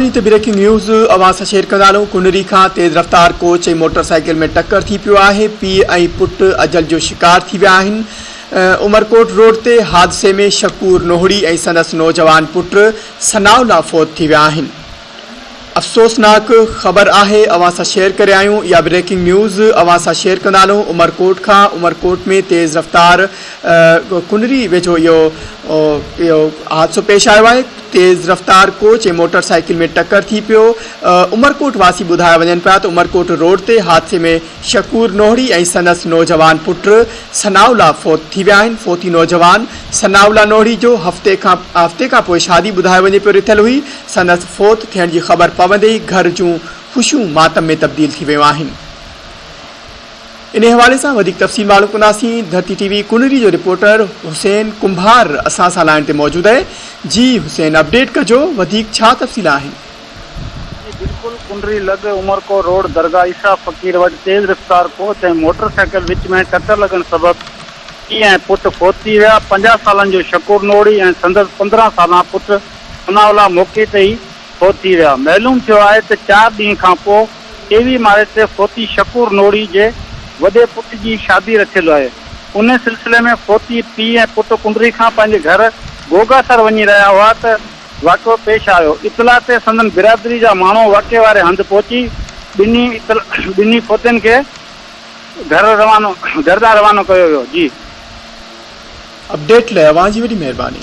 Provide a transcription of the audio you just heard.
ٽي تي breaking news اوهان سان شيئر ڪندا هلون ڪنري کان تيز رفتار ڪوچ ۽ موٽر سائيڪل ۾ ٽڪر ٿي پيو آهي پيء ۽ پٽ اجل جو شڪار ٿي ويا آهن عمرڪوٽ روڊ تي حادثي ۾ شڪور نوهڙي ۽ سندس نوجوان پٽ ثناء الله فوت ٿي ويا آهن افسوسناڪ خبر آهي اوهان سان شيئر ڪري آيون اها بريڪنگ نيوز اوهان سان شيئر ڪندا هلون عمرڪوٽ کان عمرڪوٽ ۾ تيز رفتار ڪنري ويجهو اهو حادثو پيش آيو آهي تيز رفتار ڪوچ ۽ موٽر سائيڪل ۾ ٽڪر ٿي پيو، عمرڪوٽ واسي ٻڌايا وڃن پيا ته عمرڪوٽ روڊ تي حادثي ۾ شڪور نوحڙي ۽ سندس نوجوان پٽ ثناء الله فوت ٿي ويا آهن، فوتي نوجوان ثناء الله نوحڙي جو هفتي کان هفتي کان پوء شادي ٻڌايو وڃي پيو رٿيل هئي، سندس فوت ٿيڻ جي خبر پوندي ئي گهر جون خوشيون ماتم ۾ تبديل ٿي ويون آهن. انهي حوالي سان وڌيڪ تفصيل وارو ڪنداسين ڌرتي ٽي وي ڪنري جو رپورٽر حسين ڪنڀار اسان سان لائين تي موجود اهي جي حسين اپڊيٽ ڪجو وڌيڪ ڇا تفصيل آهن. جي بلڪل ڪنري لڳ عمرڪوٽ روڊ درگاهه عيسيٰ فقير وٽ تيز رفتار ڪوچ ۽ موٽر سائيڪل وچ ۾ ٽڪر لڳڻ سبب پيء ۽ پٽ فوت ٿي ويا، پنجاهه سالن جو شڪور نوڙي ۽ سندس پندرهن سالان پٽ ثناء الله موقعي تي ئي فوت ٿي ويا، معلوم ٿيو آهي ته چار ڏينهن کانپوء ٽيوي ماڙي تي فوتي شڪور نوڙي جي وڏي پٽ جي شادي رٿيل آهي، ان سلسلي ۾ فوتي پيء ۽ پٽ ڪنڊري کان پنهنجي گهر گوگاسر وڃي رهيا هئا ته واقعو پيش آيو، اطلاع تي سندن برادري جا ماڻهو واقعي واري هنڌ پهچي ٻنهي ٻنهي فوتين کي گهر روانو گهر ڏانهن روانو ڪيو ويو. جي. اپڊيٽ لاء اوهان جي وڏي مهرباني.